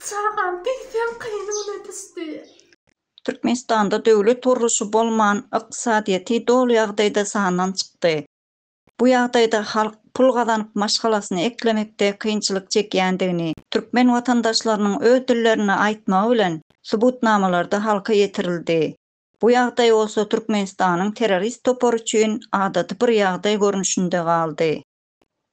Çagam diýseň gynyna düşdi. Türkmenistanda döwlet gurluşy bolman, ykdysadyýeti doly ýagdaýda sandan çykdy. Bu ýagdaýda halk pul gazanyp maşgalasyny eklemekde kynçylyk çekýändigini türkmen watandaşlarynyň öz dillerinde aýtmagy bilen subutnamalarda halka ýetirildi. Bu ýagdaý bolsa Türkmenistanyň terrorist topary üçin adaty bir ýagdaý görnüşinde galdy.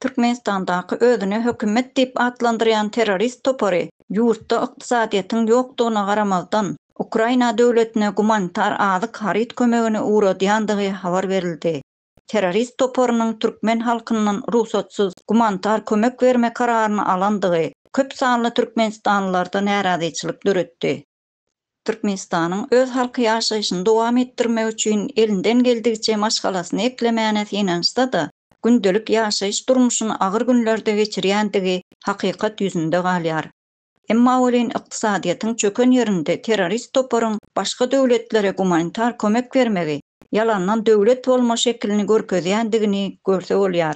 Türkmenistandaky özüne hökümet diýip atlandyrýan terrorist topary ýurtda ykdysadyýetiň ýokdugyna garamazdan, Ukraina döwletine gumanitar azyk haryt kömegini ugradýandygy habar berildi. Terrorist toparynyň türkmen halkyndan rugsatsyz gumanitar kömek berme kararyny alandygy köp sanly türkmenistanlylarda närazyçylyk döretdi. Türkmenistanyň öz halky ýaşaýşyny dowam etdirmek üçin elinden geldigiçe maşgalasyny eklemäne synanyşsa-da, gündelik ýaşaýyş durmuşyny agyr günlerde geçirýändigi hakykat ýüzünde galýar. Emma welin ykdysadyýetiň çöken ýerinde terrorist toparyň başga döwletlere gumanitar kömek bermegi ýalandan döwlet bolma şekilini görkezýändigini görse bolýar.